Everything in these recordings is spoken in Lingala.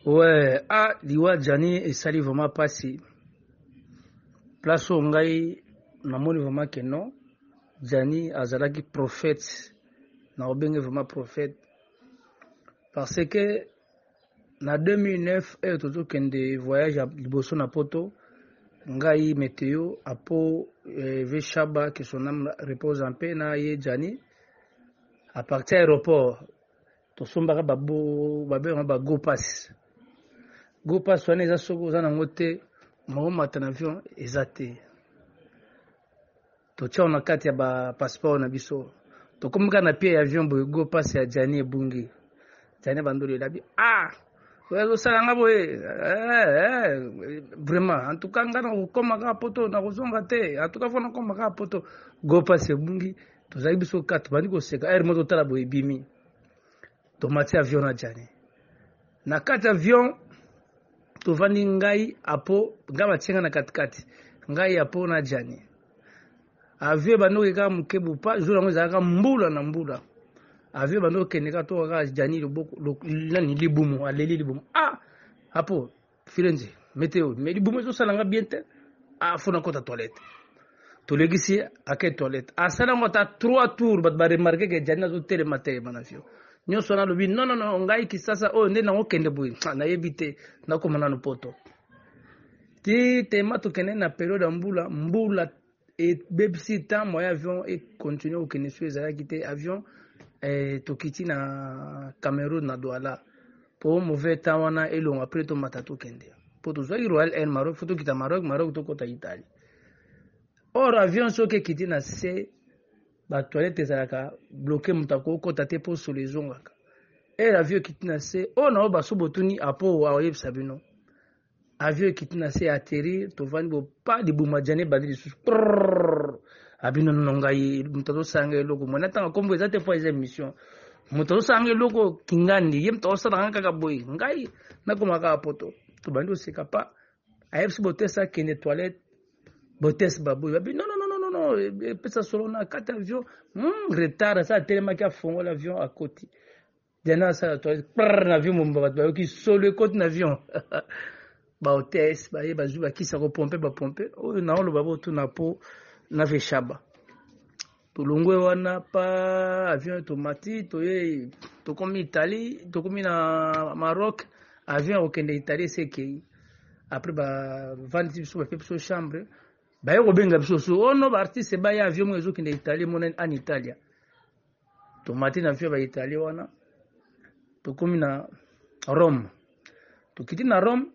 Ouais, ah, liwa Djani esali vraiment pasi. Place oyo ngai namoni vraiment que non. Djani azalaki prophète. Na obenge vraiment prophète. Parce que na 2009 oyo tozokende voyage ya liboso na poto ngai meteo apo eh, ve shaba que son âme repose en paix na ye Djani à partir ya aéroport tosombaka babengaka ba go pass go pass wana eza soki oza nango te maomata na avion eza te totiao na kati ya bapasseport na biso tokomi kaka na pie ya avion boye go pass ya jani ebungi jani bandolo elabi ah oyo azosala nga boye eh, eh, vraiment antuka nga nakokoma kaka poto nakozonga te antuka fo nakoma kaka poto go pass ebungi tozali biso ka tobandi koseka ere mo totala boye ebimi tomati avion na jani na kati avion tovandi ngai apo ngai batie ngai na katikati ngai apo na jani avion ebandi oke kaka moke bupa jour yango ezalaka mbula na mbula avion ebandi okende kaka toka kaka jani loboko nani libumu aleli libumu ah apo Firenze meteo mais libumu ezosala nga bien te afo ah, nakota toilette tolekisi ye ake toilette asala yango ata trois tour bato baremarke ke jani azotelema te bana fio nyonso wana alobi nonono ngai kisasa oyo nde nango kende boye ah, nayebi te nakoma nano poto ti tema tokende na periode ya mbula mbula ebebisi temps moyen avion e continuer kokende soki ezalaki te avion eh, tokiti na Cameroun na Douala po mauvais temps wana elonga apres tomata tokende po tozwaki Royal Air Maroc fo tokita Maroc Maroc tokota Italie or avion soki ekiti na se batoilette ezalaka bloke moto akokota te po solo ezongaka ere avion ekiti na se oyo na oyo baso botuni apo aoyebisa bino avion ekiti na se atterrir tovandi bo pa libuma jane ebandi lisusu abino nono ngai moto azosala ngai eloko mwana ntanga nkombo eza te mpo eza émission moto azosala ngai eloko kingandi ye moto azosala ngai kaka boye ngai nakoma kaka poto tobandi koseka pa ayebisi botese akende toilette botese baboye babi nono nono epesa solo na kati avion hmm, retard asa atelemaki afongola avion akoti Diana asala toilette prr na avion mobimba bato bayoki solo ekoti na avion bahotesse baye bazwi bakisa kopompe bapompe oyo naoloba botuna mpo na veshaba tolongwe wana pa avion tomati toye tokomi italie tokomi na maroc avion ya kokende italie esekei après bavandisi biso bape biso chambre baye kobenga biso so ono oh baartiste baya avion moko ezokende italie emonani an italia tomati na vio ba italie wana tokomi na rome tokiti na rome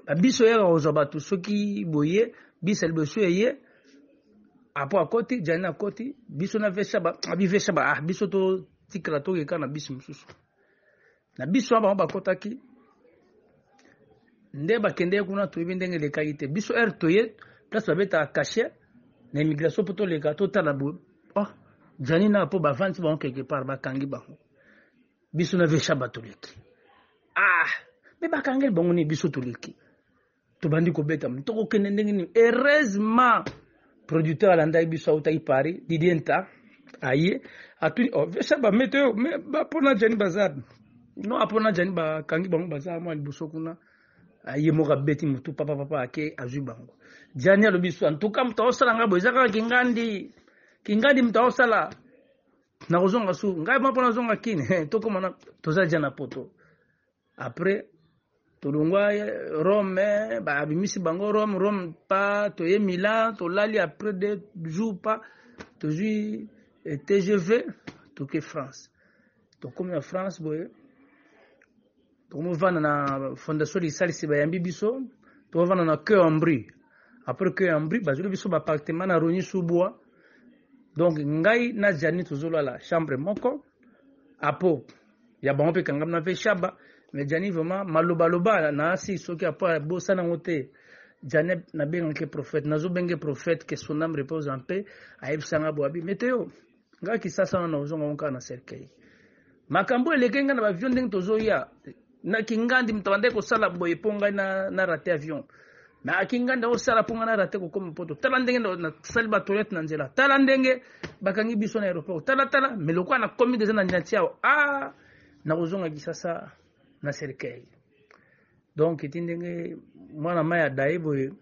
babiso yaka kozwa bato soki boye bisa liboso eye apo akoti jani akoti biso na vesha abi vesha ba ah biso totikala tokeka na bisi mosusu na biso wana bango bakotaki nde bakendeki kuna toyebi ndenge elekaki te biso heure toye place babetaka cachet na immigration mpo toleka totala boye oh, jani na mpo bavandi bango quelque part bakangi bango biso na vesha batoleki ah me bakangeli bango nini biso toleki tobandi kobeta tokokende ndenge nini heureusement producteur alandaki biso autaki paris didie nta aye atuni oh, vesa bamete oyo me bapona jani baza no apona jani bakangi bango baza mwa liboso kuna ye moko abeti motu papa papa ake azwi bango jani alobi so antuka moto aosala ngai boye eza kaka kingandi kingandi moto aosala nakozonga su ngai mwa mpo nazonga kini tokoma toza ja na poto Après tolongwa Rome babimisi bango Rome Rome pa toye Milan tolali après deux jours pa tozwi eh, TGV toke France tokomi na France boye tokomivanda na fondation lisalisi bayambi biso tokovanda na cœur en brie après que ambri bazweli biso baappartement na roni subwa donc ngai na jani tozolala chambre moko apo ya bango mpe ekangami na mpe shaba mais jani vraiment malobaloba na asi soki apo abosana yango te jani nabengaki prophète nazobenge prophète que son âme repose en paix ayebisa nga boabi meteo ngai kisasa wana ozonga ngo kaka na cercueil makambo eleke ngai na bavio ndenge tozoya na kingandi moto abandaki kosala boye mpo ngai na, na rate avion mais aki nganda osala mpo ngai narate kokoma mpoto tala ndenge nasali batoilette na nzela tala ndenge bakangi biso na aéroport tala tala me lokola nakomi deja na niati awa a ah, nakozonga kisasa na cercueil donc eti ndenge mwana mai ya daye boye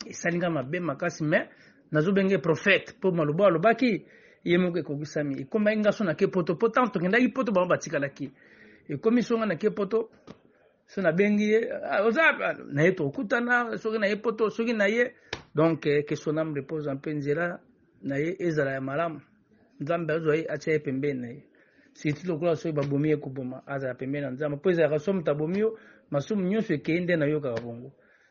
esali ngai mabe makasi me nazobenge prophète mpo maloba alobaki ye moko ekokisami ekomaki ngaso na ke poto mpo ntango tokendaki poto bango batikalaki ekomi songa na ke poto so nabengi ye ah, oza ah, na ye tokutana soki na ye poto soki na ye donc eh, que son âme repose en paix nzela na ye ezala ya malamu nzambe azwa ye atya ye pembeni na ye siti lokola soki babomi ye koboma azala pembeni na nzambe mpo ezalaka soki moto abomi yo masumu nyonso ekei nde nayokaka bongo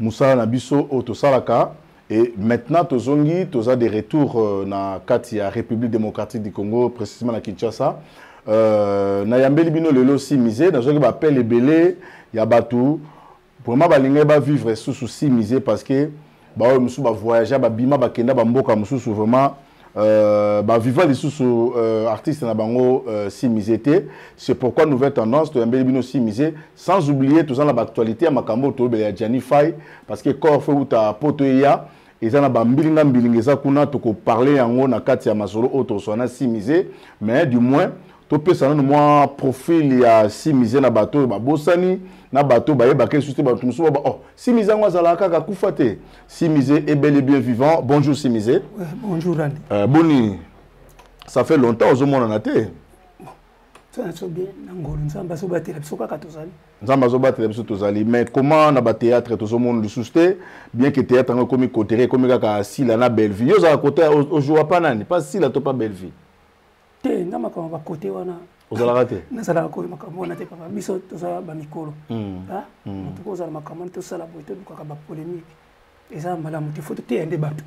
musala na biso oyo tosalaka et maintenant tozongi toza de retour euh, na kati ya République démocratique du Congo précisément na Kinshasa euh, na yambeli bino lelo si musée nazwaki ba appel ebele ya bato vraiment balingaki ba vivre susu si musée parce que baoyo mosusu ba voyagea babima bakenda bamboka mosusu vraiment Euh, bah, viva les sous euh, artistes na bango euh, si misé c'est pourquoi nouvelle tendance tu yambeli bino si misé sans oublier tout ça la actualité à makambo to bela Gianni Fay parce que corps fait ou ta poto ya eza na bambilinga mbilinga eza kuna tokoparle yango na kati ya masolo oyo tozwa na simise mais du moins topesa nano mwa profil ya simise na bato oyo babosani na bato bayebaka lisusu te bato mosusu baba oh simise yango azalaka kaka kufa te Simise est bel et bien vivant. Bonjour Simise. Ouais, bonjour Anne. Euh, Boni, ça fait longtemps aux hommes en athée. Ça n'a bien n'angolo nzamba so batela biso kaka tozali. Nzamba so batela biso tozali mais comment na ba théâtre tous monde le souste bien que théâtre ngo komi côté komi kaka sila na Bellevue. Yo za côté au jour pas nani pas sila to pas Bellevue. te nga makambo ba kote wana ozalaka te nazalaka koyo makambo wana te papa biso tozala bamikolo hmm. ah, hmm. motu kozala makambo wana tosala boye tolukaka bapolémique eza malamu te fo toteya nde bato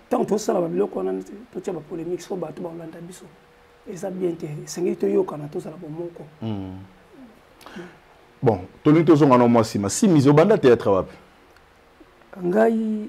ntango tosala babiloko wana totya bapolémique so bato bakolanda biso eza bien te esengeli toyokana tozala bomoko hmm. bon tolingi tozonga na mwa nsima simizi obanda théâtre wapi ngai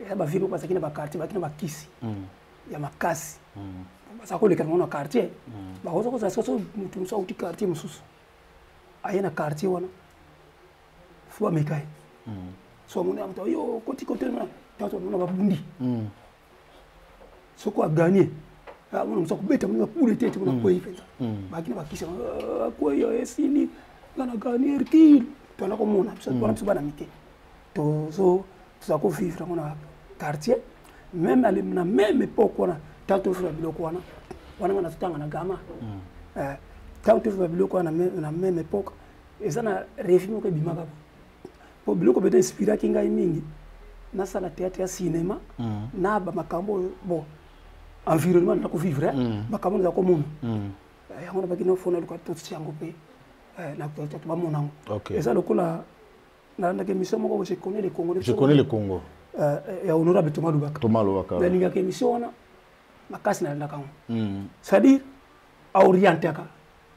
eza ba vieux bazalaki na ba quartier bazalaki na ba kisi mm. ya makasi mm. baza koleka nango na quartier mm. bakoza kozala sika so motu mosusu auti quartier mosusu aye na quartier wana fo bameka ye so amoni ya moto yo koti kotelema tanso amona babundi soko aganye amona mosu akobeta mona bapule te te mona akwei mpenza baki na bakisi akwei esili nga na ganie erkile twana komona biso bana mike tozo tozala ko vivre yango na quartier meme ale na meme epoque wana ntango tofula biloko wana wana nga nazotanga na gama hmm. eh, ntango tofula biloko wana na meme epoque eza na revi moko ebimaka bo mpo biloko bete inspiraki ngai mingi nasala théâtre ya cinéma hmm. na bamakambo oyo bon environnement na kovivre eh, hmm. makambo naza komona eh, yango nabaki nofona luka totisi yango mpe na bamona yango eza lokola nalandaka émission moko je connais le congo je connais le congo euh, euh, ya honorable thomas lubaka thomas lubaka nalingaka émission wana makasi nalandaka yango hmm. c'est-à-dire aorientaka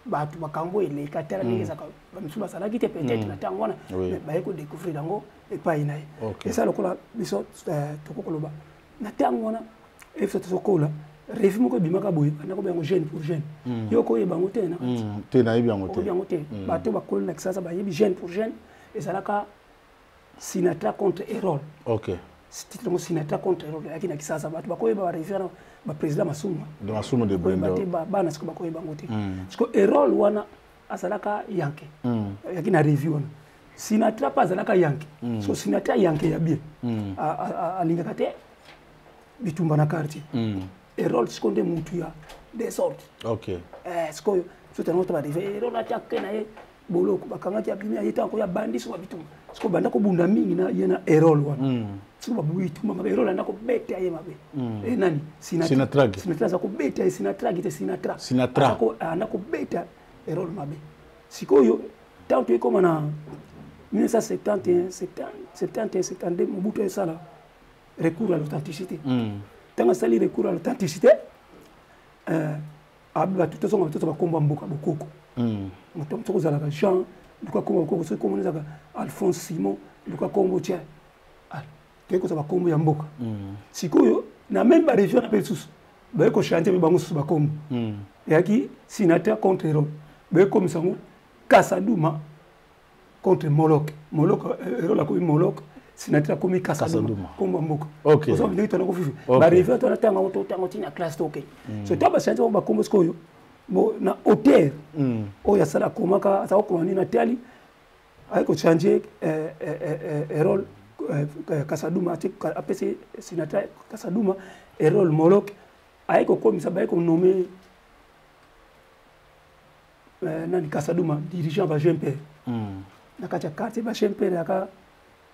bato makambo eleka te na ndenge hmm. ezaka bamisusu bazalaki te peut-être hmm. na ntango wana baye kodécouvrir yango epai na ye eza lokola biso euh, tokoki koloba na ntango wana efsa tozokola revi moko ebimaka boye nakoba yango jeune pour jeune hmm. yo okoyeba yango te na kati hmm. te nayebi yango te yango te hmm. bato bakoli na kisasa bayebi jeune pour jeune ezalaka sinatra contre erol ok titre yango sinatra contre erol ayaki na kisasa bato bakoyeba barevi wana baprésident masumu masumu de brenda te bana siko bakoyeba yango te siko erol wana azalaka yanke ayaki na revi wana sinatra mpe azalaka yanke mm. so sinatra yanke ya bien mm. alingaka te bitumba na quartier mm. erol siko nde mutu ya desordre okay. eh, sikoyo soki yango tabadeve erol ati ake na ye boloko bakangaki abimi aye ntango ya bandi so babitumba siko banda kobunda mingi na ye na erol wana mm. siko babitumba mabe erol anda kobeta ye mabe mm. e nani sinatra aza kobeta ye sinatra agi te sinatra anda kobeta erol mabe sikoyo ntango toye koma na 1971 71 72 mobutu esala recours à l'authenticité ntango asali recours à l'authenticité euh, bato tozonga batoto bakombo ya mboka bokoko hmm. moto moto kozalaka jean luka kombo bokoko soki kombo ezalaka alphonse simon luka kombo tien toyei kozwa bakombo ya mboka mm. sikoyo na meme baregion na mpe lisusu baye kochange mpe bango susu bakombo mm. eyaki sinateur contre rome bayekomisa yango kasaduma contre molok molok eh, erole akomi molok sinateur akomi kasaduma kombo ya mboka ozo ndenge tona kofifi baregion tona ntango yango totango ntina classe toke mm. so ntango bachange bango bakombo sikoyo na hauteur oyo asala akomaka aza kokoma nini na tali aye kochange eh, eh, eh, role kasaduma ati apesi sinatra kasaduma erole molok aye kokomisa baye konome nani kasaduma dirigeant ba jeune pere hmm. na kati ya quartier ba jeune pere yaka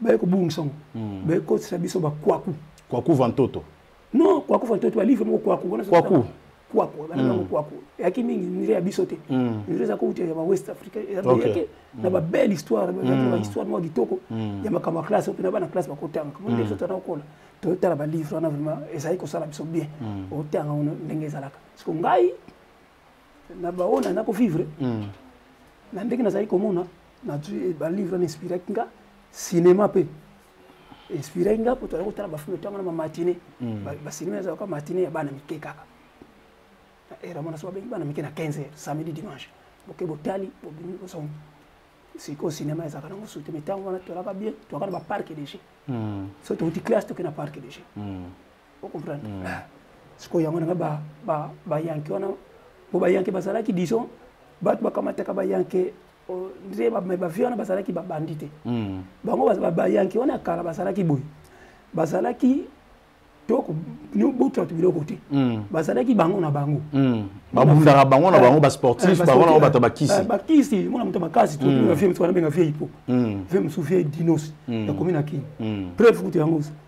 baye kobungisa ngo hmm. baye kotisa biso bakwaku kwaku vantoto non kwaku vantoto balivre moko kwaku wana kwaku kwaku banango hmm. kwaku eyaki mingi nzela ya biso te hmm. nzela eza kouta ya bawest africa yake na babelle histoire histoire moko kitoko ya makambo ya classe mpe na bana classe bakotanga kamoni biso tana kokola totala balivre wana vraiment ezali kosala biso bien otanga ndenge ezalaka siko ngai na baoyo na nako vivre hmm. na ndenge nazali komona nazwi balivre na inspiraki nga cinéma mpe inspiraki nga mpo tozali kotala bafilme ntango na bamatine hmm. basinema ezalaka matine ya bana mike kaka era mwana so babengi bana mike na 15 heures samedi dimanche boke botali bobimi bosongi sikoyo cinéma ezalaka nango sute mai ntango wana tolaka bien tolaka na baparke dege hmm. so touti classe toke na parke dege o comprendre mm. ah, sikoyo yango nanga bayanke wana po bayanke bazalaki disons bato bakamataka bayanke nde bavie wana bazalaki babandi te mm. bango bayanke wana ya kala bazalaki boye bazalaki botwatu biloko te hmm. bazalaki bango na bango hmm. babundaka bango na eh, bango basportif eh, bango na bango bato bakisi eh, bakisi mwana moto makasi vie hmm. mosusu wana benga vie hipo vie mosusu vie dinos yakomi na kini preuve kutu yango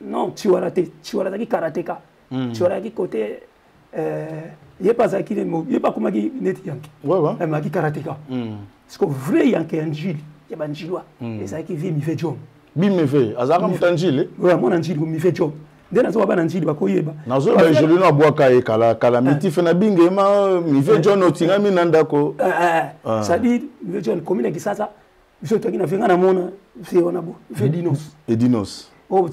non chiwara te chiwara azalaki karateka mm. chiwara ayaki kote euh, ye mpe azalaki ye mpe akomaki neti yanke amaki karateka mm. siko vrai yanke ya njili ya banjilwa mm. ezalaki vie mive jom bimeve azalaka moto ya njili oyo amona njili mive jom nde nazoba bana njili bakoyeba nazoyeba egelino abwaka ye kala kala eh. mitife na binge ma mive eh. john otingami na ndako sadire eh, mive john komi na kisasa biso toyaki na venga namona se wana bo fe dinos edinos oh,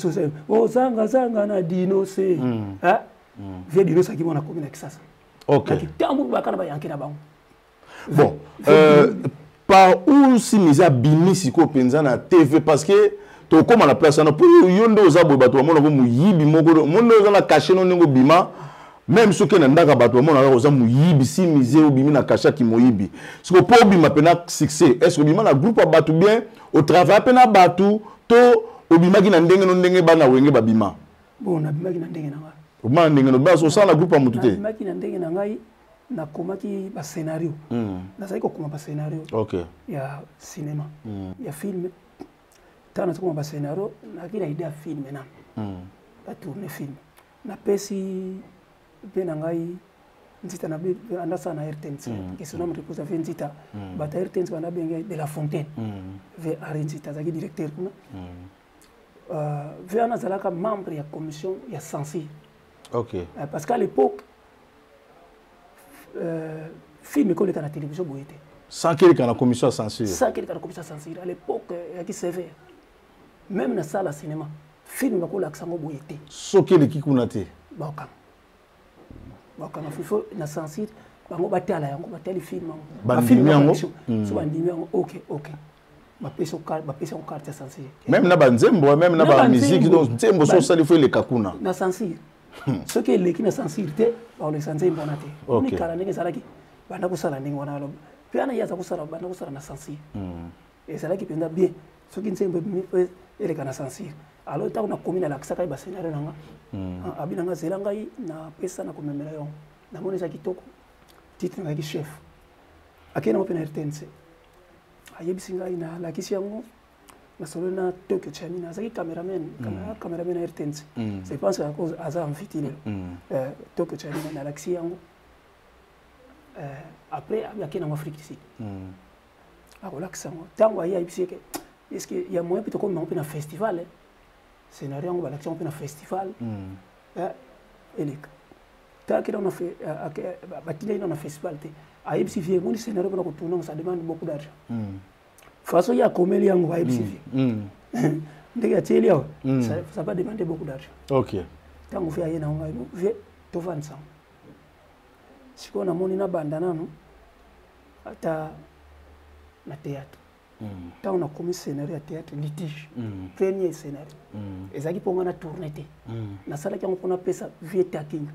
oh, zanga zanga na dinose mm. ah? mm. vie dinos akimi wana komi na kisasa okay. kitambo baka na bayanke na bango bon euh, par où simisi abimi sikoyo mpenza na tv parce que tokóma na place wana mpo yo nde oza boye bato bamona ko moyibi moko mondo oza na kashe no ndenge obima meme soki na ndaka bato bamonaka oza moyibi si mise obimi na kasha kimoyibi siko mpo obima mpe na succès est ce que obima na groupe ya bato bien otravaille mpe na bato to obimaki na ndenge no ndenge bana wenge babima bon nabimaki na ndenge na ngai obima na ndenge no basi osala na groupe ya motu te nabimaki na ndenge na ngai nakomaki bascenario mm. nazali kokoma bascenario okay. ya cinéma mm. ya filme ntango nazokoma bascenario nayaki na idée ya filme nano mm. batourne filme napesi mpe na ngai nzita na andasa na rtnc mm. et son homme repose ave nzita mm. bato ya rtnc banda benge de la fontaine mm. ve henri nzita azalaki directeur kuna euh, ve wana azalaka membre ya commission ya censure okay. Euh, parce qu'à l'époque euh, film ekoleka na télévision boye te sans keleka na commission ya censure sans keleka na commission ya censure à l'époque eyaki sévère meme na sala cinéma film bakolakisa yango boye te soki eleki kuna te bakanga bakanga fifo na censure bango batala yango batali film yango bafilme yango so hmm. bandimi yango ok ok bapesi yango carte ya censure meme na banzembo meme na bamusike donc nzembo so osali fo eleka kuna na censure hmm. soki eleki na censure te bakolekisa nzembo wana te kala ndenge ezalaki banda kosala ndenge wana mpe wana ye aza kosala banda kosala na censure hmm. ezalaki mpenza bien soki nzembo ebimi mpo eleka na censure alors ntango nakomi nalakisaka ye bascenario na nga hmm. ah, abi na nga zela ngai napesa na komemela yango namoni eza kitoko titre nayaki chef akei nango mpe na rtnc ayebisi ngai nalakisi yango nasololi na tokyo chami nazalaki cameraman hmm. cameraman na rtnc hmm. je pense aza enviti lelo eh, tokyo chami nalakisi yango eh, après akei nango afrique du sud akolakisa yango ntango aye ayebisi eke eske ya moyen mpe tokomi yango mpe na festival eh? scénario yango balakisi yango mpe na festival hmm. eh, eleka batilaki nano na festival te ayebisi vie emoni scénario mpona kotournango ça demande beaucoup d'argent hmm. façon ye akomeli yango ayebisi vie hmm. ndenge atieli yawa ça va demander beaucoup d'argent ntango vie aye nango ngai vie tovandisanga sikoyo namoni nabanda nano ata na théâtre hmm. ntango nakomi scénario ya théâtre litige hmm. premier scénario hmm. ezalaki mpo ngai na tourne te nasalaki yango mpo napesa vie takinga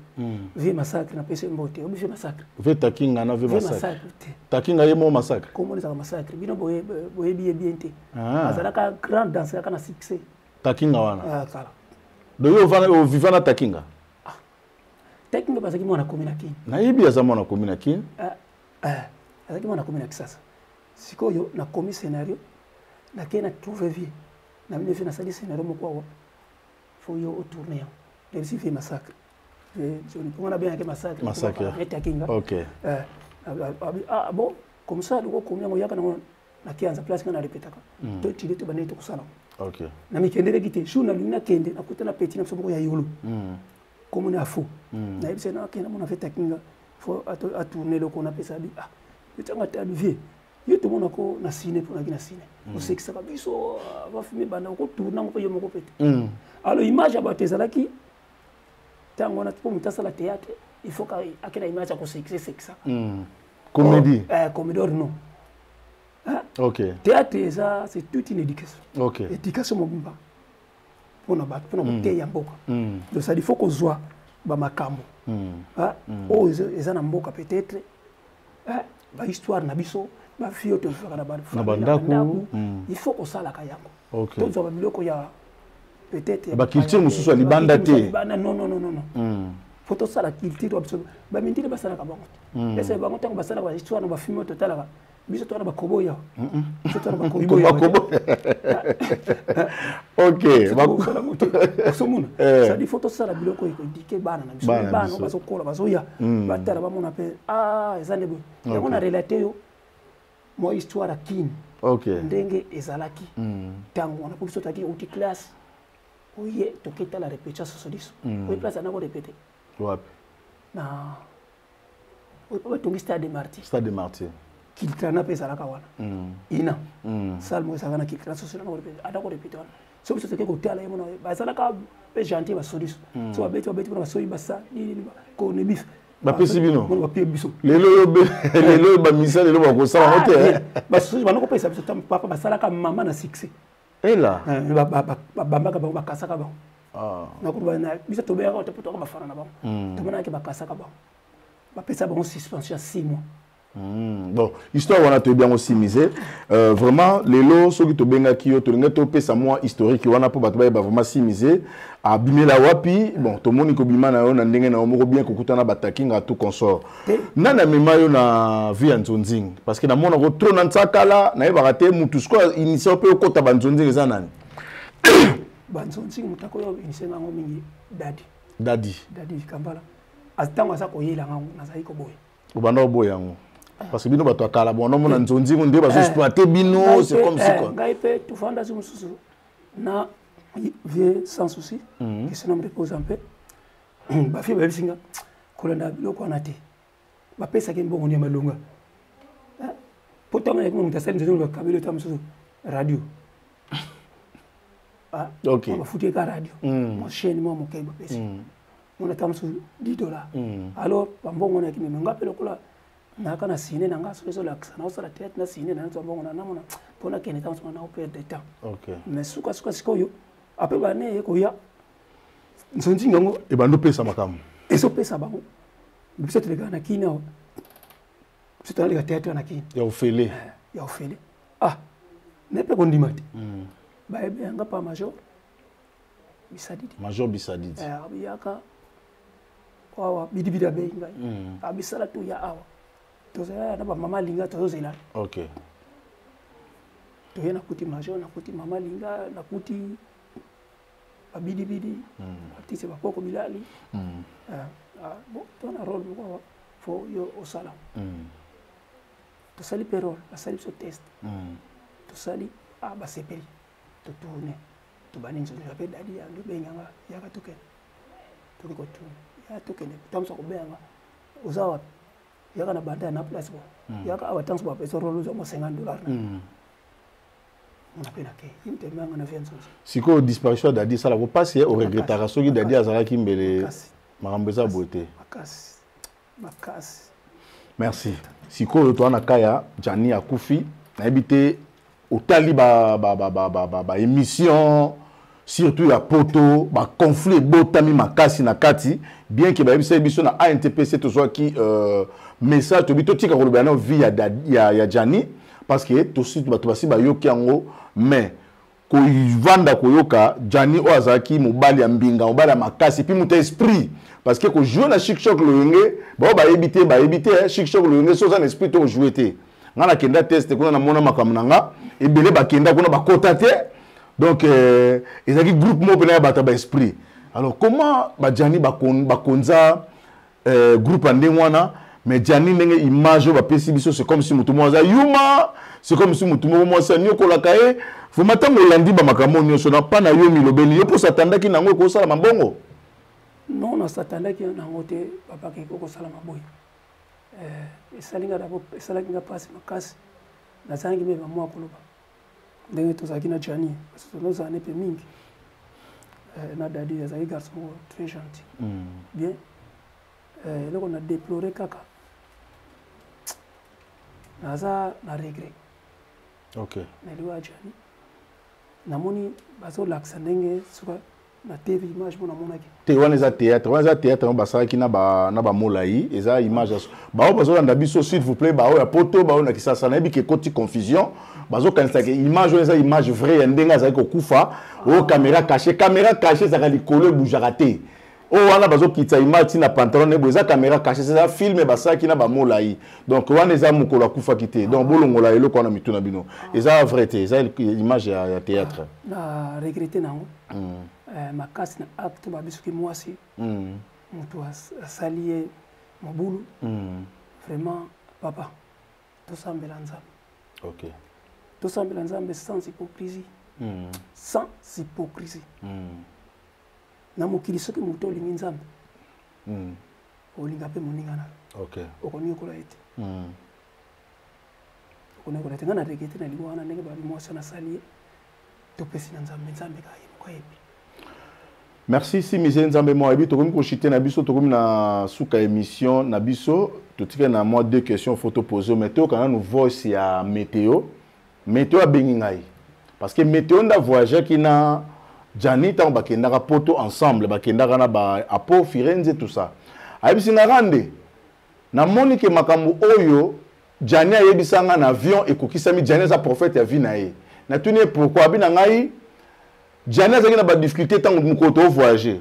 vie massacre napesi mbo te obi vie massacre vie takinga na vie massacre te takinga ye mo massacre kombo ezalaka massacre bino boyebi ye bien te ah. azalaka grand danse kaka na succès takinga wana ah, kala donc yo ovivana takinga tekno bazalaki mwana komi na kin nayebi aza mwana komi na kin ah, ah, azalaki mwana komi na kisasa sikoyo nakomi scenario nakei na trouve vie na bino vie nasali scenario moko awa fo yo otourne yango reusi vie massacre mponga nabengaki massacreetakinga ah bon comme ça loko komi yango yaka nango na kianza place nga na repetaka mm. to tide to bande to kusala okay na mikendeleki te jour na lingi na kende na kuta na petit na biso moko ya yulu mm. comme na fou mm. na yebisa na kende mona feta kinga fo a tourner loko na pesa bi ah petit nga ta vie yo to mona ko na ciné pour na ki na ciné mm. o sekisa ka biso va ah, fumer banda ko tourner ngo pe yo moko pete mm. alors image ya bato ezalaki ntango wana mpo moto asala théâtre il faut akenda image ya kosekisa sekisa mm. Comédie. Oh, eh, comédie or non. Hein? Ok. Théâtre eza c'est toute une éducation. Ok. Éducation mobimba. Pona ba pona mm. kote ya mboka. Mm. Donc ça il faut qu'on soit ba makambo. Mm. Hein? Mm. Oh eza na mboka peut-être. Hein? Ba histoire na biso, ba fio to fera na ba na ba ndaku. Mm. Il faut qu'on sala ka yango. okay. tozwa babiloko ya peut-être baculture mosusu ya libanda te libanda non non non non mm. faut tosala culture ya biso bamindele basalaka bango te mm. esa bango ntango basalaka bahistoire na bafilme oyo totalaka biso twana bakobo ya biso twana bakobo ya bakobo ok bakosala moto osomona eh. sadi faut tosala biloko ekodike bana na biso bana bazokola bazoya mm. batala bamona mpe a ah, eza nde boye yango na relate yo mwa histoire ya kin okay. ndenge ezalaki ntango mm. wana po biso tozalaki outi classe oye toke tala repetition soso liso mm. oye place anako repete wapi na oye po batongi stade de martyr stade de martyr kiltrana mpe ezalaka wana mm. ina mm. salmo ezalaka na kiltrana soso anako repete wana soki biso toke kotala ye mona bazalaka mpe gentil basodis hmm. so babeti babeti mpona basoyi basa nini konebisa bapesi bino bapie biso lelo oyo lelo oyo bamisa lelo bakosala ngo te ah, eh. basusu bana kopesa biso ntango papa basalaka mama na succès ela eh, babambaka bango bakasaka bango ah. nakuba na biso tobeyaka te mpo toka bafana na bango hmm. tomonaka bakasaka bango bapesa bango suspension ya six mois Hmm, bon histoire wana toyebi yango simise euh, vraiment lelo soki tobengaki yo tolingi topesa mwa historique wana mpo bato bayeba vraiment simise abimela wapi bon tomoni kobima na yo na ndenge na yo moko bien kokutana batakinga tout consort eh. nani amema yo na vie ya nzonzing parce que namonako tro na nsakala nayebaka te motu sikoyo initia mpe okota banzonzing eza nani banzonzing moto akoyo initia nango mingi dadi dadi dadi kambala ntango aza koyela ngango nazali koboya obanda oboya yango parce que bino bato ya kala bona omona nzonzi ngo nde bazo exploite bino c'est comme si quoi ngai mpe tofandaki mosusu na vie sans souci que son homme repose en paix bafi bayebisi nga kolanda biloko wana te bapesaki mbongo ya malonga mpo ntango yaki moto asali nzonzi bakabeli ota mosusu radio okay. bafuti eka radio mm. mwa chaine mwa moke bapesi mm. mona ta mosusu 10 dollar mm. alors bambongo nayaki meme nga mpe lokola nayaka na sine na nga soki ezolakisa naosala théâtre na sine na nzwa mbongo na namona mpo nakende ta mosusu na naoperde temps okay. mais sukasuka sikoyo ape bane eye koya nsonzinga yango ebandi opesa makambo ezopesa bango biso tolekaka na kini awa biso tolaleka théâtre na kini ya ofele eh, ya ofele ah me mpe kondima te hmm. bayebe yanga pa major bisadidi major bisadidi eh, abiyaka awa bidibidi abeyi ngai hmm. abisala ah, toya awa tozalala na bamama alinga tozozela okay. toye nakuti major nakuti mama alinga nakuti babidibidi hmm. artiste bakoko bilali hmm. eh, ah, bon tona role moko fo yo osala mm. tosali perole basali biso test hmm. tosali ah, basepeli totourne tobandi nzoto ya mpe dadi yange benganga yaka tokende toki kotourne yaka tokende ntango kobenganga oza wapi yaka na banda na place bo hmm. yaka awa ntango bapesa role ozwa mo 50 dollar na hmm. mpe nake imtemanga na vie nzozi sikoyo disparition ya dadi esalako mpasi ye oregretaka soki dadi azalaki mbele makambo eza boye te makasi makasi merci sikoyo toa na ka ya jani akufi nayebi te otali baémission ba, ba, ba, ba, ba, ba émission, surtout ya poto baconflit ebotami makasi na kati bien ke bayebisaki biso na antpc tozwaki euh, message tobi totika kolobela nao vie ya, ya, ya jani parce que tosi bato basi bayoki yango mais kovanda koyoka jani oyo azalaki mobali ya mbinga mobali ya makasi mpe moto ya esprit parce que kojoue na chikshok loyenge baoyo bayebi te bayebi te chikshok loyenge so oza na esprit to ojoue te ngai nakenda teste kuna namona makambo na nga ebele bakenda kuna bakota te donc euh, ezalaki groupe moko mpena ya bato ya baesprit alors comment bajani bakonza euh, groupe ya ndenge wana mais jani ndenge image oyo bapesi biso c'est comme si motu moko aza yuma c'est comme si motu moko mwasi aniokolaka ye vraimen ntango olandi bamakambo nyonso na mpa na yo milobeli yo mpo satandaki na yango ekosala mabongo non nasatandaki na yango te babaka eko kosala maboye eh, esalaki nga mpasi makasi nazalaki mpe bamwa koloba ndenge tozalaki na jani parce que tozala ne mpe mingi eh, na dadi azalaki garçon moko très gentil mm. bien eh, eloko na déplore kaka naza na regret okay. na liwa ya jani namoni bazolakisa ndenge suka na tv image mona monaki te wana eza théâtre wana eza théâtre yango basalaki na ba na bamolai eza image ya baoyo bazolanda biso s'il vous plaît baoyo ya poto baoyo na kisasa nayebi ke ekoti confusion bazokanisa ke image wana eza image vrai ya ndenge azali kokufa oyo caméra caché caméra caché ezalaka likolo ebujaka te oyo wana bazokitisa image ntina pantalon ne boye eza caméra caché eza filme basalaki na bamolai donc wana eza mokolo akufaki te donc bolongola eloko wana mitu na bino eza vrai te eza image ya, ya théâtre na regrete nango mm. eh, makasi na acte ba bisuki mwasi mm. moto asali ye mobulu mm. vraiment papa tosambela nzambe okay. tosambela nzambe sans hypocrisie mm. sans hypocrisie mm. na mokili soki moto olingi nzambe mm. olinga mpe moninga na yo okay. okoniokola ye te mm. okoniokola te ngai na regrete na liwa wana ndenge babi mwasi nasali ye topesi na nzambe nzambe kaka ye moko ayebi merci simize nzambe mwa ayebi tokomi koshite na biso tokomi na suka émission na biso totikali na mwa deux questions fo topose mais toyokana nanu voice ya météo météo abengi ngai parce que météo nda voyageaki na jani ntango bakendaka poto ensemble bakendaka na ba apo firenze tout ça ayebisi nga rande namoni ke makambo oyo Djani ayebisa nga na avion ekokisami Djani aza prophète ya vie na ye natuni ye pourquoi abi na ngai Djani azalaki na ba difficulté ntango mokolo to voyager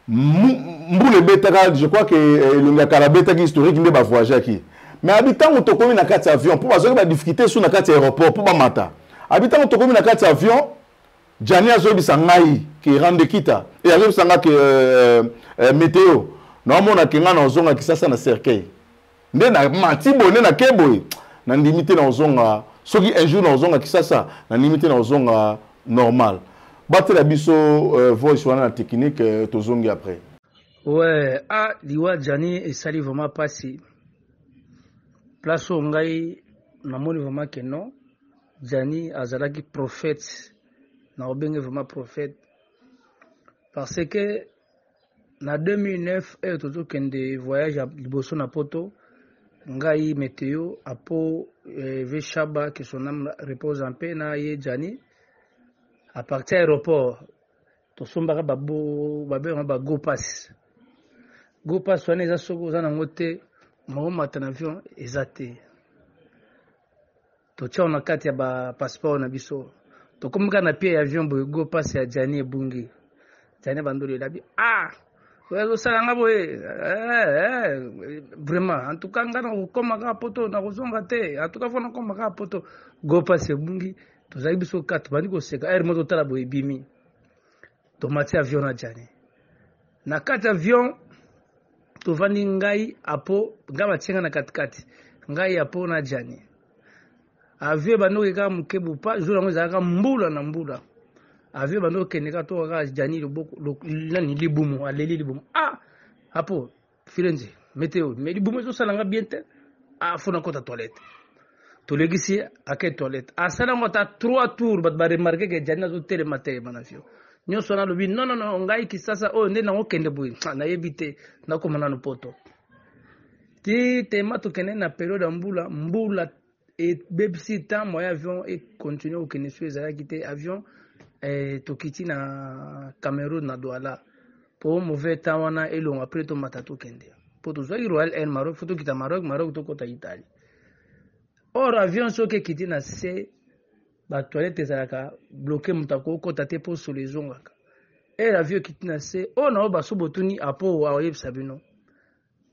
mbula ebetaka je crois que eh, elongi ya kala abetaki historique nde bavoyageaki mais abi ntango tokomi na kati ya avion mpo bazwaki badifficulté su na kati ya aéroport mpo bamata abi ntango tokomi na kati ya avion jani azoyebisa ngai ke rande kita e azoyebisa ngai ke euh, euh, euh, meteo naomona ke ngai na ozonga kisasa na cercueil nde na mati boye nde nake boye nandimi te na kozonga soki un jour na kozonga kisasa nandimi te na kozonga normal batela biso euh, voice wana na technique euh, tozongi après ouais ah liwa jani esali vraiment pasi place oyo ngai namoni vraiment ke non jani azalaki prophète na obenge vraiment prophète parce que Na 2009 heure tozokende voyage ya liboso na poto ngai meteo apo eh, ve shaba que son âme repose en paix na ye jani à partir ya aéroport tosombaka babo babengaka ba go pass go pass wana eza soki oza nango te maomata na avion eza te Totia yo na kati ya ba passeport na biso. Tokomi kaka na pied ya avion boye go passe ya Gianni ebungi. Gianni bandolo elabi. Ah! Oyo azosala nga boye. Eh, eh, vraiment. En tout cas nga nakokoma kaka poto nakozonga te. En tout cas fo nakoma kaka poto. Go passe ebungi. Tozali biso kaka tobandi koseka. Ere mo totala boye ebimi. tomati avion na jani na kati avion tovandi ngai apo ngai batie ngai na katikati ngai apo na jani avion ebandi oke kaka moke bopa jour yango ezalaka mbula na mbula avion ebandi okende kaka toka kaka jani loboko nani libumu aleli libumu ah apo Firenze meteo mais libumu ezosala nga bien te afo ah, nakota toilette tolekisi ye ake toilette asala yango ata trois tours bato baremarke ke jani azotelema te bana fio nyonso wana alobi nonono ngai kisasa oyo oh, nde nango kende boye ah, nayebi te nakoma nano poto ti tema tokende na periode ya mbula mbula ebebisi temps moyen avion e continuer kokende soki ezalaki te avion eh, tokiti na Cameroun na Douala po mauvais temps wana elonga après tomata tokende po tozwaki Royal Air Maroc fo tokita Maroc Maroc tokota Italie or avion soki ekiti na se ba toilette ezalaka bloqué moto akokota te po solo ezongaka air avion ekiti na se oyo na oyo baso botuni apo akoyebisa bino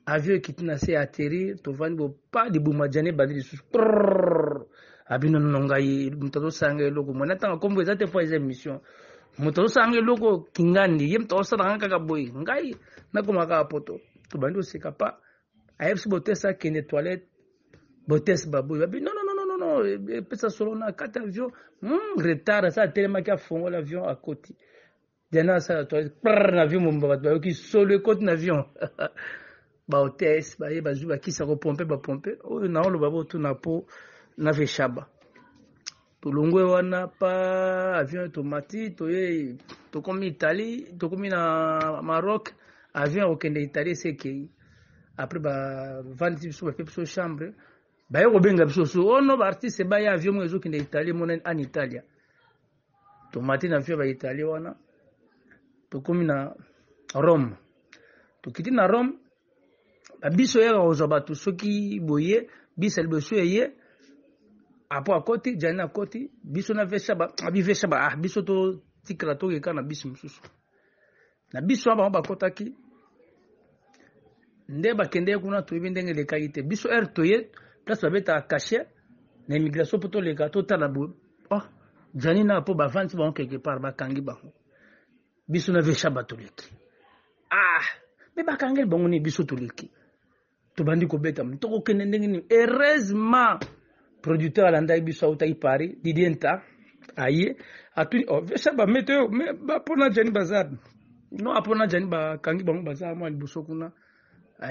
avion ekiti na se atterrir tovandi bo pa libuma jane ebandi lisusu abino nono ngai moto azosala ngai eloko mwana ntanga nkombo eza te mpo eza émission moto azosala ngai eloko kingandi ye moto azosala ngai kaka boye ngai nakoma kaka poto tobandi koseka pa ayebisi botese akende toilette botese baboye babi nono nono epesa solo na kati avion hmm, retard asa atelemaki afongola avion akoti Diana asala toilette prr na avion mobimba bato bayoki solo ekoti na avion bahotesse baye bazwi bakisa kopompe bapompe oyo naoloba botuna mpo na veshaba tolongwe wana pa avion tomati toye tokomi italie tokomi na maroc avion ya kokende italie esekei après bavandisi biso bape biso chambre baye kobenga biso so ono oh baartiste baya avion moko ezokende italie emonani an italia tomati na vio ba italie wana tokomi na rome tokiti na rome babiso yaka kozwa bato soki boye bisa liboso eye apo akoti jani akoti biso na vesha abi vesha ba ah biso totikala tokeka na bisi mosusu na biso wana bango bakotaki nde bakendeki kuna toyebi ndenge elekaki te biso heure toye place babetaka cachet na immigration mpo toleka totala boye oh, jani na mpo bavandi bango quelque part bakangi bango biso na vesha batoleki ah me bakangeli bango nini biso toleki tobandi kobeta tokokende ndenge nini heureusement producteur alandaki biso autaki paris didie nta aye atuni oh, vesa bamete oyo me bapona jani baza no apona jani bakangi bango baza mwa liboso kuna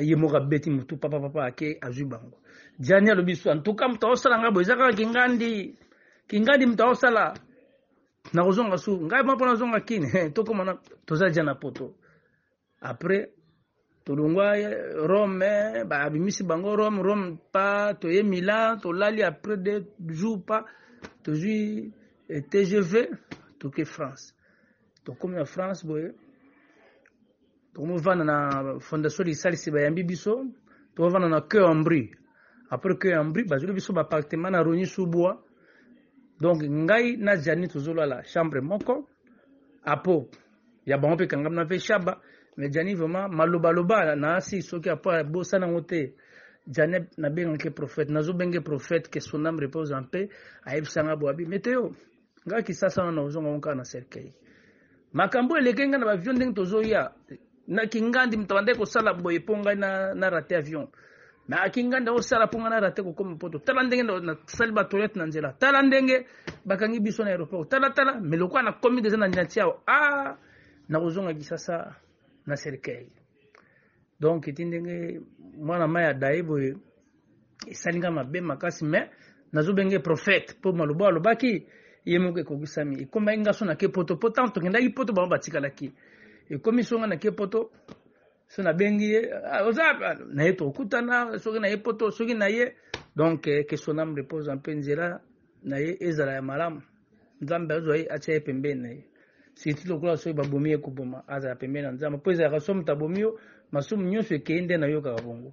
ye moko abeti motu papa papa ake azwi bango jani alobi so antuka moto aosala ngai boye eza kaka kingandi kingandi moto aosala nakozonga su ngai mwa mpo nazonga kini tokoma toza ja na poto Après tolongwa Rome, babimisi bango Rome, Rome pa toye Milan, tolali après deux jours pa tozwi eh, TGV toke France. Tokomi na France boye tokomivanda na fondation lisalisi bayambi biso tokovanda na cœur en brie après cœur en brie bazweli biso baappartement na rogni sous bois donc ngai na jani tozolala chambre moko apo ya bango mpe ekangami na mpe shaba mais jani vraiment malobaloba na asi soki apo abosana yango te jani nabengaki prophète nazobenge prophète que son âme repose en paix ayebisanga bo abi meteo ngai kisasa wana ozonga ngo kaka na cercueil makambo eleke ngai na bavio ndenge tozoya na kingandi moto abandaki kosala boye mpo ngai na, na rate avion mais aki nganda osala mpo ngai narate kokoma mpoto tala ndenge nasali batoilette na nzela tala ndenge bakangi biso na aéroport tala tala me lokola nakomi deja na niati awa a ah, nakozonga kisasa na cercueil donc eti ndenge mwana mai ya daye boye esali ngai mabe makasi me nazobenge prophète mpo maloba alobaki ye moko ekokisami ekomaki ngaso na ke poto mpo ntango tokendaki poto bango batikalaki ekomi songa na ke poto so nabengi ye ah, oza ah, na ye tokutana soki na ye poto soki na ye donc eh, que son âme repose en paix nzela na ye ezala ya malamu nzambe azwa ye atya ye pembeni na ye siti lokola soki babomi ye koboma azala pembeni na nzambe mpo ezalaka soki moto abomi yo masumu nyonso ekei nde nayokaka bongo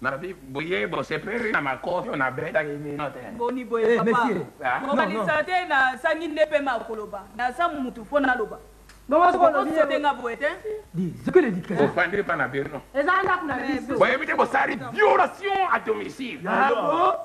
Na vie boye bosepeli na makofi oyo nabetaki bino te. Boni boye eh, papa. Ah. Kokanisa te na sangi nde pe ma koloba. Na sa mutu fo na loba. Bokosote nga boye te. Ofandi pa na bino. Eza ndako na biso. Boyebi te bosali violation à domicile. Ah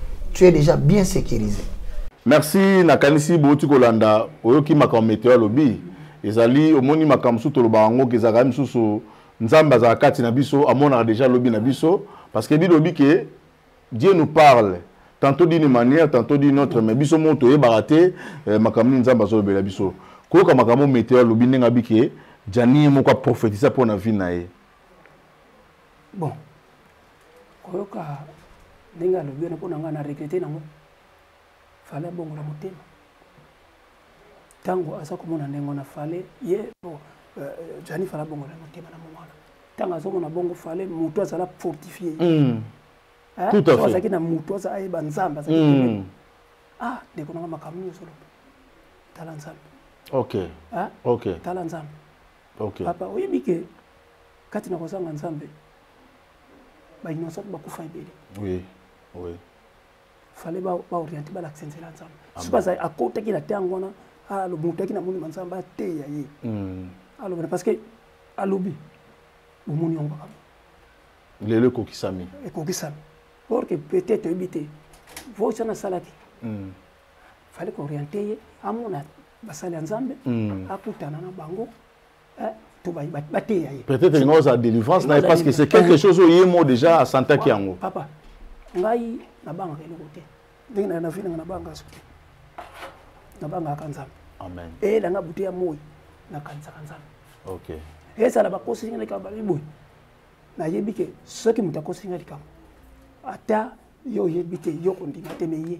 tu es déjà bien sécurisé merci nakanisi bouti kolanda oyoki makambo meteo alobi ezali omoni makambo mosusu tolobaka yango ke ezalaka mosusu nzambe azalaka kati na biso amonaka deja lobi na biso parce que bilobi ke dieu nous parle tantôt d'une manière tantôt d'une autre mais biso moko toyebaka te eh, makambo nini nzambe azolobela biso koyoka makambo meteo alobi ndenge abi ke janie moko aprofetisa mpo na vie na ye bon koyoka ndenge alobi wana mpo na ngai na regrete nango fale abongola motema ntango aza komona ndenge wana fale ye oh, euh, euh, jani fale abongola motema na mongo wana ntango azomona bongo fale moto azala fortifie hmm. azalaki na moto aza ayeba nzambe azalaki hmm. ah ndeko nanga makambo nini ozoloba tala nzambe ok ok tala nzambe ok papa oyebi ke kati na kozanga nzambe ba innocent bakufa ebele oui oui fallait ba ba orienter ba l'accent la nzambe si baza akotaki na tango wana alo mutaki na moni nzambe ateya ye hmm. alo parce que alobi bomoni yango kaka lelo ekokisami ekokisami or que peut-être oyebi te voice wana asalaki hmm. fallait ko orienter ye amona basali ya nzambe hmm. akutana na bango to bateya ye peut-être linga ozala délivrance na ye parce que c'est quelque chose oye mo déjà asantaki yango papa ngai nabangaka eloko te ndenge na navi nanga nabangaka soki nabangaka nzambe amen eyelanga butu ya moi nakanisaka nzambe ok ezala bakosi nga likambo balobi boye nayebi ke soki moto akosi nga likambo ata yo oyebi te yo kondima te meye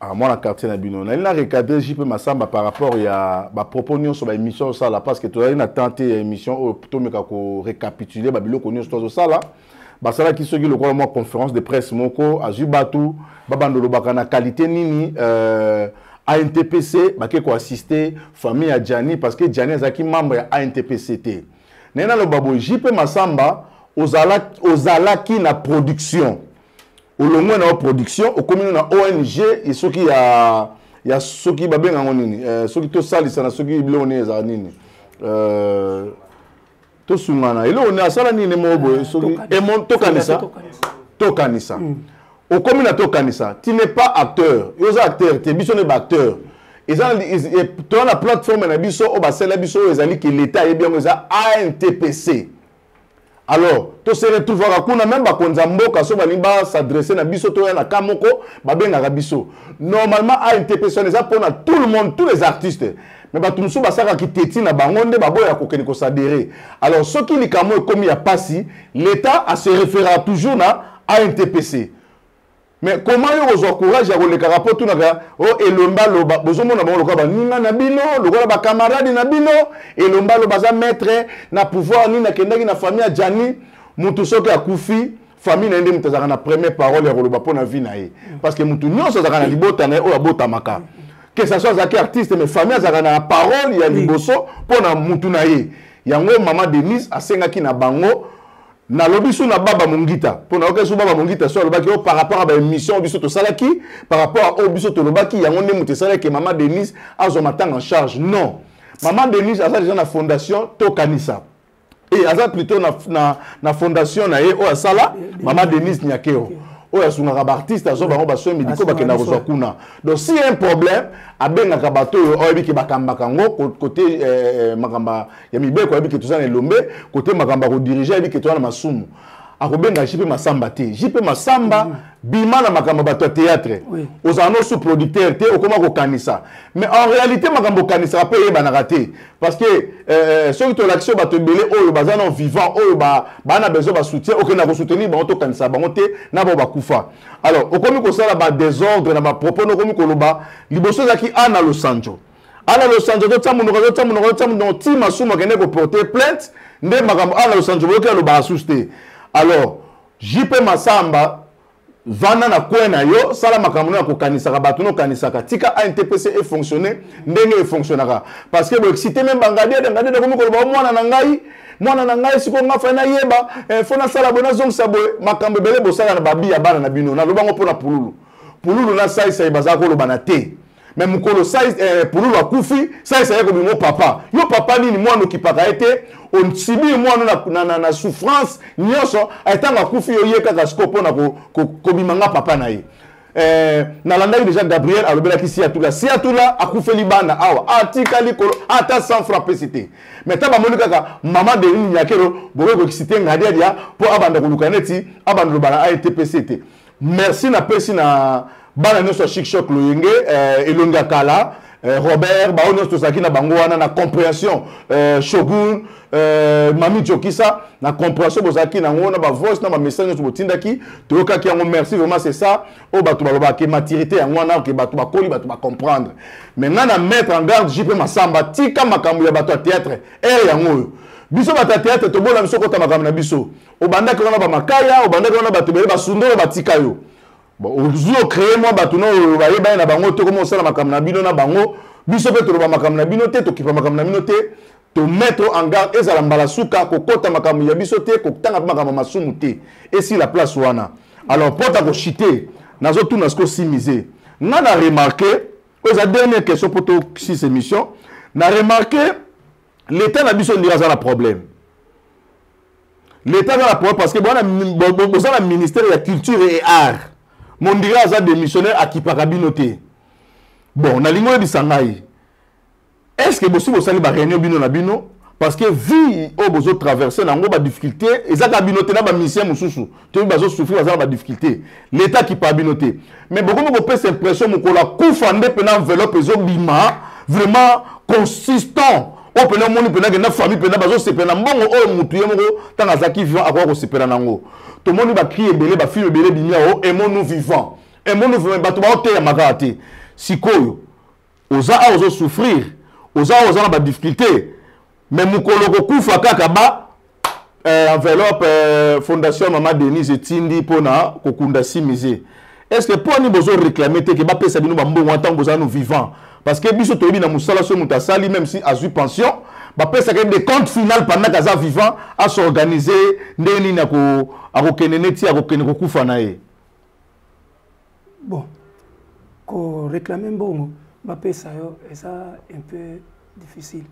ah, mwana quartier na bino nalingi na recadre jp masamba par rapport ya bapropos nyonso baémission osala parce que tozali na temps te ya émission oyo tomeka korécapitule babiloko nyonso tozosala basalaki soki lokola mwa conférence de presse moko azwi bato babanda olobaka na qualité nini euh, antpc bake koassiste famille ya jani parce que jani azalaki membre ya antpc te naye naloba boye jp masamba ozalaki, ozalaki na production olongwe na yo production okomi no na ong ye soki ya ya soki babenga yango nini eh, soki tosalisana soki biloko nini ezala nini eh, tosungana eloko nini asala nini moko boye soki tokanisa tokanisa mm. okomi na tokanisa ti n'est pas acteur yo oza acteur te biso ne baacteur eza eh, toza na plateforme na biso oyo basala biso oyo ezali ke leta ayebi yango eza antpc alors to se retrouvaka kuna meme bakonzi ya mboka so balingi basadresse na biso toya na ka moko babengaka biso normalement antps wana eza mpona tout le monde tous les artistes mais bato mosusu basalaka kiteti na bango nde baboya kokende kosadere alors soki likambo ekomi ya mpasi l'état ase référera toujours na antpc mais comment yo kozwa courage ya kolekaka mpo tunaka o oh, elomba loba bozomona bango lokola baninga na bino lokola bakamarade na bino elomba loba aza maître na pouvoir nini akendaki na famille ya jani motu soki akufi famille na ye nde moto azalaka na première parole ya koloba mpo na vie na ye parce que motu nyonso azalaka na libota na ye oyo abotamaka que ça soit azalaki artiste mais famille azalaka na parole ya liboso mpo na motu na ye yango mama denise asengaki na bango nalobi so na baba mongita mpo nayokaki so baba mongita so alobaki o oh, par rapport ya baémission oyo biso tosalaki par rapport ya oyo oh, biso tolobaki yango nde moto esalaki mama denise azwa matanga en charge non mama denise aza deja na fondation tokanisa e aza plutôt na, na, na fondation na ye oyo asala mama denise nyakeo okay. oyo asungaka baartiste azwa bango basoin médicaux bakenda kozwa kuna donc si un problème abengaka bato oyo oyebi ke bakambaka yango kote eh, eh, makambo ya mibeko ayebi ke toza na elombe kote makambo akodirige ayebi ke toza na masumu akobenga jp masamba te jp masamba mm. bima na makambo ya bato ya théâtre oui. ozala no sous producteur te okoma kokanisa mais en réalité makambo okanisaka mpe eyebanaka te parce que euh, euh soki tolakisi oyo bato ebele oyo baza na vivant oyo baa ba na besoin basoutien okenda kosoutenir bango tokanisa bango te na bao bakufa alors okomi kosala badésordre na bapropos na okomi koloba liboso ezalaki ana losanjo ana losanzo azotya monoko azotya monoko azotya monoko ti masumu akende koporte plainte nde makambo ana losanzo boyoki alobaka susu te alors jp masamba vanda na kwe na yo sala makambo no ya kokanisaka bato no okanisaka tika antpc efonctionne ndenge efonctionnaka parce que boexcite me bangadiede ngadiede akomi koloba mwana na ngai mwana na ngai sikoyo nga fai nayeba eh, fo nasala boye nazongisa boye makambo ebele bosala na babi ya bana na bino nalobango mpo na pululu pululu na saisai bazala kolobana te me mokolo eh, pululu akufi saisa ye kobimo papa yo papa nini mwana okipaka ye te osibili mwana na, na, na, na souffrance nyonso ntango akufi yo ye kaka siko mpo na kobima ko, nga papa na ye eh, nalandaki deja gabriel alobelaki siatula siatula akufeli bana awa atikali kolo ata sans franc pesi te mai ntango bamoni kaka mama delini nyakelo bokoki kokisite ngadiadia mpo abanda koluka neti abanda lobala aye te pesi te merci napesi na bana nyonso ya shikshok loyenge eh, elongi ya kala eh, robert baoyo nyonso tozalaki na bango wana na comprehension eh, shogun eh, mami jokisa na comprehension bozalaki na yango na bavoice na bamessage nyonso botindaki toyokaki yango merci vraiment c'est ça oyo bato balobaka ke maturité yango wana ke bato bakoli bato bacomprendre mais ngai na mettre en garde jp masamba tika makambo ya bato ya théâtre ere yango oyo biso bato ya théâtre tobola biso kota makambo na biso obandaki wana bamakaya obandaki wana bato ebele basunda oyo batika yo ozwi ocreye mwa bato na oyo bayebani na bango te koma osala makambo na bino na bango biso mpe toloba makambo na bino te tokipa makambo na bino te tomettre en garde ezala mbala suka kokota makambo ya biso te kotanga mpe makambo masumu te esila place wana alors mpo ta koshite nazotuna siko simize nga na remarke oyo eza dernière question mpo to six émission na remarke l'état na biso ndira aza na problème leta aza na problème parce que boza na ministère ya culture et art mondira aza démissionnaire akipaka bino te bon nalingi oyebisa ngai est ce que bosi bosali baréunion bino na bino parce que vie oyo bozotraverse na yango badifficulté eza kaka bino te na bamusicien mosusu toyebi bazosouffrir baza na badifficulté leta akipa bino te mais bokomi kopesa impression mokolo akufa nde mpena enveloppe ezobima vraiment consistant oyo mpena omoni mpena kenda famille mpena bazosepela na mbongo oyo motu ye moko ntango azalaki vivant akoya kosepela na yango tomoni bacri ebele bafilme ebele bimi yango emonu vivant emonu vivant bato baoteyama kaka te sikoyo oza awa ozo souffrir oza awa oza na ba difficulté mais mokolo okokufa kaka ba euh, enveloppe euh, fondation mama denise etindi mpo na kokunda simize est ce que mpo ani bozo réclame te ke bapesa bino bambongo ntango bozala no vivant parce que biso toyebi na mosala soki moto asali même si azwi pension bapesaka de compte final pendant kaza vivant asorganize ndenge nini akokende neti akokende kokufa na ye bon ko réclamer mbongo bapesa yo eza un peu difficile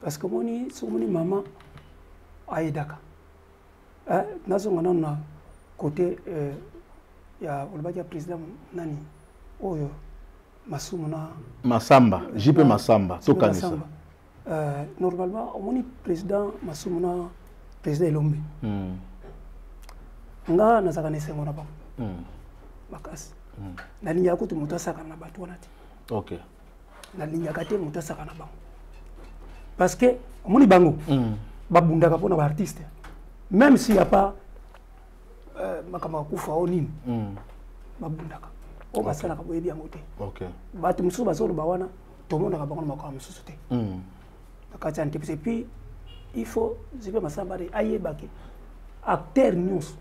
parce que omoni soki omoni mama ayedaka eh, nazonga nano na côté eh, ya olobaki ya président nani oyo masumu na masamba jipe masamba tokanisa Euh, normalement omoni président masumu na président elombe mm. nga nazalaka na esengo na bango mm. makasi mm. nalingaka kutu moto asakana na bato wana te okay. nalingaka te moto asakana na bango parce que omoni bango mm. babundaka mpo na baartiste même s'il y a pas euh, makambo ya kufa o nini mm. babundaka oyo basalaka boyebi yango te bato mosusu bazoloba wana tomonaka bango na makambo mosusu te hmm. na kati ya entreprise epuis il faut jipe masambare ayebake acteur nyonso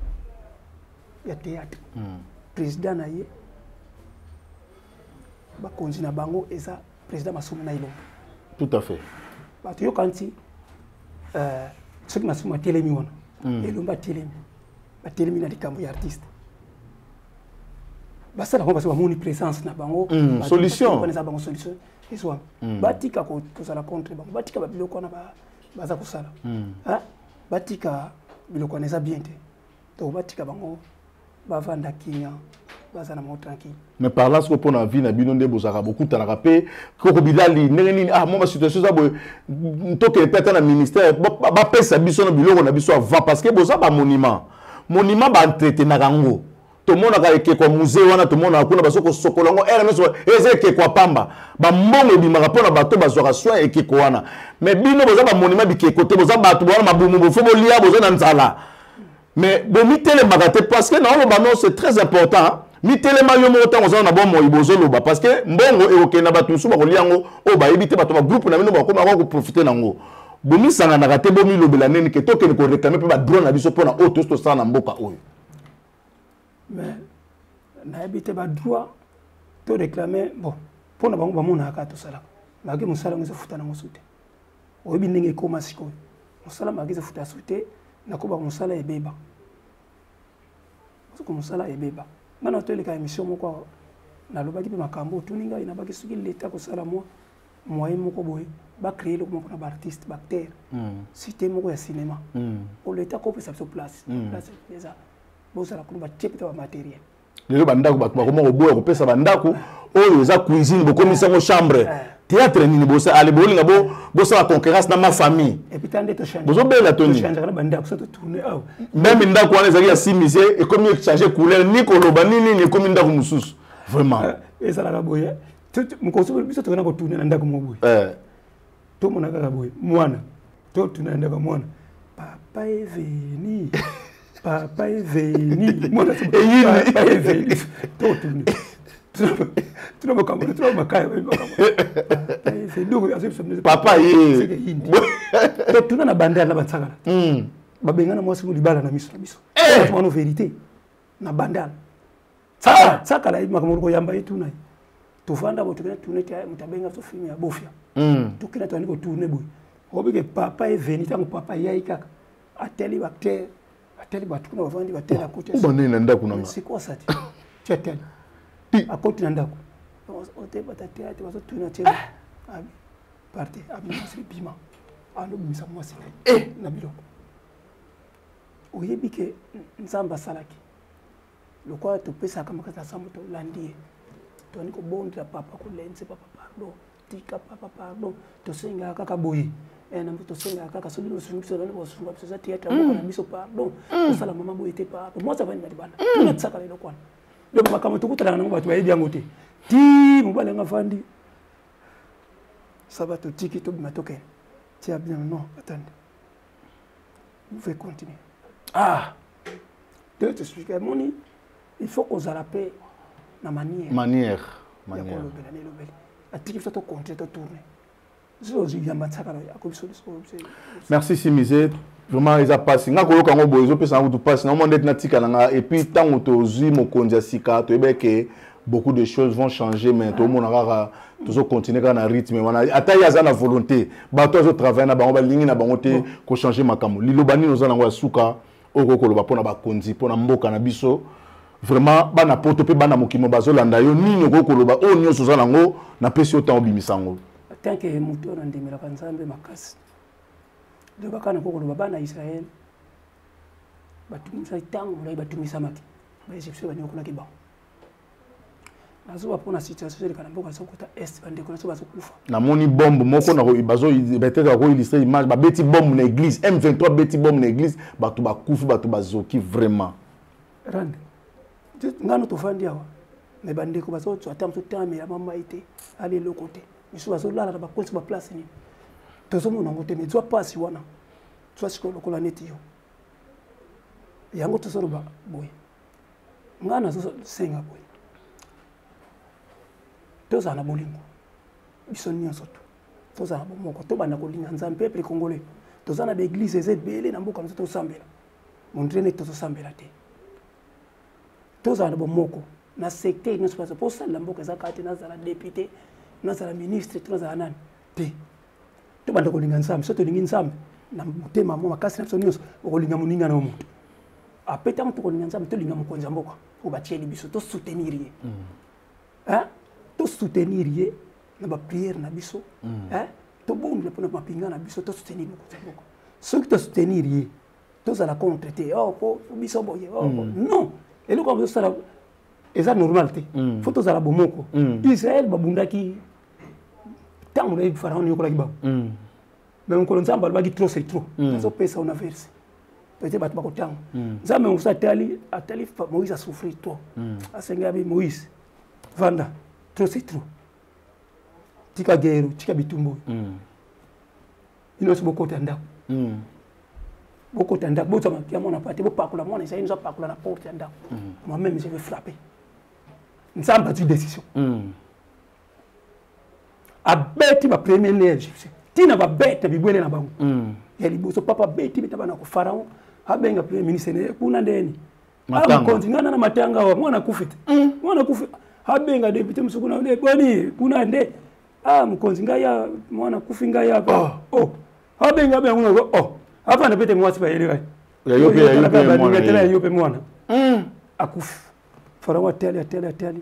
ya théâtre hmm. président na ye bakonzi na bango eza président masumu na elongo tout à fait bato yoka nti euh, soki masumu atelemi wana hmm. elombe atelemi batelemi na likambo ya artiste basala yango basi bamoni présence na bango mm, solution eza bango solution ezwami mm. batika kozala contre bango batika babiloko wana baza kosala mm. batika biloko wana eza bien te donc batika bango bavanda kimia baza na mao tranquille mais par là soko mpona vie na bino nde bozalaka bokutanaka mpe koko bilali ndenge nini ah mwa basituation eza boye ntokele mpe ata na ministère bapesa biso na biloko na biso avant parce que boza bamonument monima ba entretenaka yango tomonaka ekeko ya musee wana tomonaka kuna bazo kosokola yango ere nyonso eza ekeko ya pamba bambongo ebimaka mpo na bato bazwaka soin ekeko wana me bino boza bamonima bikeko te boza bato bowana mabumu bofo bolia boza na nzala me bomitelemaka te parce que naoloba no c'est très important mitelema yo moko ntango ozana na bomoi bozoloba parce que mbongo ekokende na bato mosusu bakolia yango oyo bayebi te bato bagroupe na bino bakomaka koprofite na yango bomisanganaka te bomilobela nini ke tokende koreklame mpe badrone na biso mpona oyo tosi tosala na mboka oyo mais nayebi te badroit toreklame bon mpo na bango bamonaka kaka tosalaka maki mosala yango ezofuta nango su te oyebi ndenge ekóma sikoyo mosala maki ezofuta su te nakoba mosala ebeba soko mosala ebeba nana toleka émission moko nalobaki mpe makambo otuni ngai nabaki soki leta kosala mwa moyen moko boye ba créer eloko moko na ba artiste ba acteur hmm. cité moko ya cinéma hmm. o leta ko pesa biso place hmm. place eza bozala kuna batie mpe ta bamateriel lelo bandako bato bakoma koboya kopesa bandako oyo eza cuisine bokomisi yango chambre eh. théâtre nini bosale bolinga bosala concurrence na ma famille bozobela toni meme ndako wana ezalaki ya simise ekomi echange couleur ni koloba ni nini ekomi ndako mosusu vraiment eh, ezalaka boye mokolo soki biso tokenda kotuna na ndako moko boye eh. tomona kaka boye mwana totuna na ndako mwana papa eveni papa eveni mwana papa eveni totuni tuna makambo tuna makaya papa ye totuna na bandala na bansakala hmm. babengana mwasi libala na miso na biso eh! mano verité na bandala Tsaka, tsaka la makambo ko yamba ye tuna. Tofanda bo tokena tuna te moto abenga so film ya bofia. Mm. Tokena to ko tourner boy. Obi ke papa est venu tango papa yayi kaka. Ateli acteur, ateli batu kuna bavandi batela oh, kote. Uba nene ndako nanga. C'est quoi ça? Tu ateli. Ti. Akoti na ndako. Ote bata théâtre bazo tuna tena. Ah. Abi. Parte abi masri bima. Ando bimisa mwasi na ye. Eh. Na biloko. Oyebi ke Nzambe asalaki. lokola topesaka makasi na sambo tolandi ye toni kobondela papa kolenze papa pardon tika papa pardon tosengaka kaka boye eh, tosengaka kaka soki nosungi biso nani kosunga biso eza teyatre moko mm. na biso pardon mm. tosala mama boye te pardon mwasi avandi na libanda tonatisaka mm. leloko wana donc makambo tokutanaka nango bato bayebi yango te ti mobali yango afandi saba totiki tobima tokende tia bien non atande vous pouvez continuer ah de t'expliquer amoni il faut kozala mpe na manière manière ya kolobela na elobeli atiki biso tocontinue totourne merci simise vraiment eza mpasi nga koyoka yango boye ezopesa nga kutu mpasi na omona ndeti natikala nga epuis ntango tozwi mokonzi ya sika toyebeke beaucoup de choses vont changer mais tomona kaka tozo continuer kaka na rythme wana ata ye aza na volonté bato azo travaille na bango balingi na bango te kochange makambo liloba nini oza nango ya suka okoki koloba mpo na bakonzi mpo na mboka na biso vraiment bana poto mpe bana mokimo bazolanda yo nini okoki koloba oyo nyonso oza nango napesi yo ntango obimisa yango tanke moto oyo nandemelaka nzambe makasi lobaka na kokoloba bana ya israele batumisaki ntango molai batumisamaki baegyptien banyokolaki bango nazoba mpona situation ezoleka na mboka azokota est bandeko na biso bazokufa namoni bombe moko peut-être akoillustre image babeti bombe na église m23 abeti bombe na église bato bakufi bato bazoki vraiment rande ngano tofandi awa me bandeko bazozwa ata mosu tame ya mamai te ali eloko te misusu bazolala na bakonsi baplace nini tozomona yango te me zwa mpasi wana zwa sikoyo lokola neti yo yango tozoloba boye ngai nazosenga boye tozala na bolingo biso nyonso tu tozala bomoko tobanda kolinga nzambe peuple congolais toza na baeglise eza ebele na mboka biso tosambela mondire neti tozosambela te tozala na bomoko na secteur nyonso mpo osalela mboka eza kaka te nazala depute nazala ministre to nazala nani te tobanda kolinga nzambe so tolingi nzambe na motema mo makasi na biso nyonso okolinga moninga na yo moto ape ntango tokolinga nzambe tolinga mokonzi ya mboka oyo batieli biso tosoutenir ye mm. tosoutenir ye na bapriere na biso mm. tobondela mpo na mapinga na biso tosoutenir mokonzi ya mboka soki tosoutenir ye tozala contre te oh, po biso boye oh, mm. non eloko yango tosala eza normal te fo tozala bomoko israel babundaki ntango nayebi faraon nayokolaki bango mm. me mokolo nzambe alobaki trop c'est trop mm. nazopesa ona verse pete bato bakotanga mm. nzambe mosusu atali atali moïse asouffrir trop asengelabi moïse vanda trop c'est trop tika guerre tika bitumba oyo bino nyonso bokota ndako bokota ndako bozwa mapi ya mwana pate bopakola mwana ezali nyonso apakola na porte ya ndako moi-même je vais frapper nzambe azwi décision abeti ba premier lien egyptien ntina babeta bibwele na bango mm. ya liboso papa abeti beta bana ko pharaon abenga premier ministre naye kuna ndeni mokonzi ngana na matanga awa mwana akufi te mm. mwana akufi abenga depute mosusu kuna nde boni kuna nde a ah, mokonzi ngai ya mwana akufi ngai ya oh. oh. abenga abenga kuna o oh. afanda pete mwasi bayeli kai baningatela yayo mpe mwana mm. akufi pharaon atali atali atali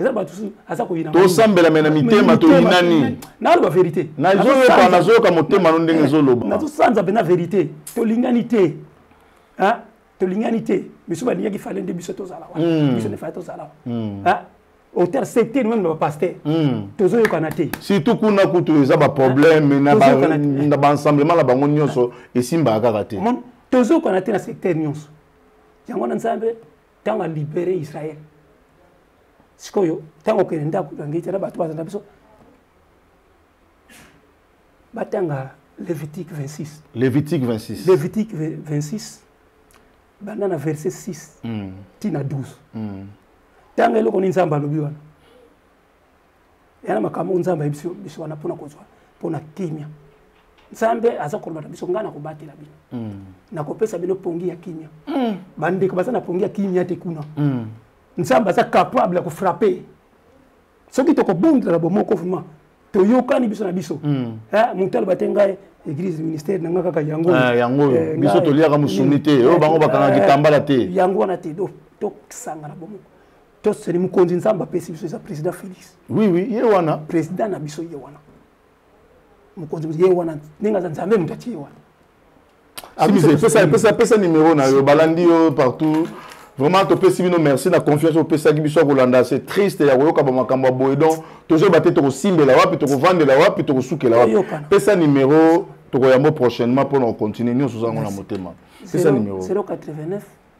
eza bato mosusu aza koyina tosambela me na mitema toyinani naloba verité nazoyoka nazoyoka motema no ndenge ezoloba nazosanza mpenza verité tolingani te tolingani te biso balingaki fale nde biso tozala wana hmm. biso nde fale tozala wana hmm. auteur secteur même na bapaster hmm. tozoyokana te surtout kuna kutu eza baproblème na baensemblement na bango nyonso esimbaka kaka te tozoyokana te na secteur nyonso yango na nzambe ntango alibere israel sikoyo ntango okende ndako na ngeti na bato bazana biso batanga levitique 26 levitique 26 levitique 26 banda na verset 6 mm. ti na 12 ntango mm. eloko nini nzambe alobi wana yana makambo oyo nzambe ayebisi biso wana mpona kozwa mpona kimia nzambe aza koloba na biso ngai nakobatela bino mm. nakopesa bino pongi ya kimia mm. bandeko baza na pongi ya kimia te kuna mm. nzambe aza capable ya kofrape soki tokobondela na bomoko vrima toyokani biso na biso hmm. eh, moto aloba te ngai église ministère na ngai kaka yango eh, yango oyo eh, biso toliaka mosuni te oyo bango bakangaki tambala te yango wana te tosangana bomoko toseli mokonzi nzambe apesi biso eza président félix oui oui ye wana président na biso ye wana mokonzi ye wana ndenge aza nzambe moto atie ye wana ah, pesa nimero na yo balandi yo partout vraiment topesi bino merci na confiance opesaki biso ya kolanda se triste ya koyoka bamakambo ya boye donc tozoyeba te tokosimbela wapi tokovandela wapi tokosukela wapi pesa nimero tokoyambo prochainement mpo na kocontinue nyonso oza yango na motema pesa nimero 089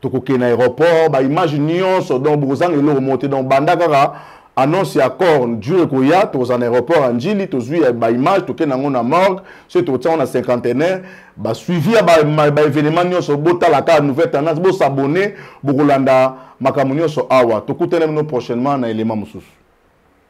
tokokende na aéroport ba image nyonso donc bokozanga eloko moko te donc banda kaka annonce ya corne jour ekoya tokozala na aéroport ya njili tozwi ya baimage tokende yango na morgue soki tokotia yango na cinquantenaire basuivi ya baévénement ba nyonso botala kaka nouvelle tendance bosabone bokolanda makambo nyonso awa tokutana bino prochainement na élément mosusu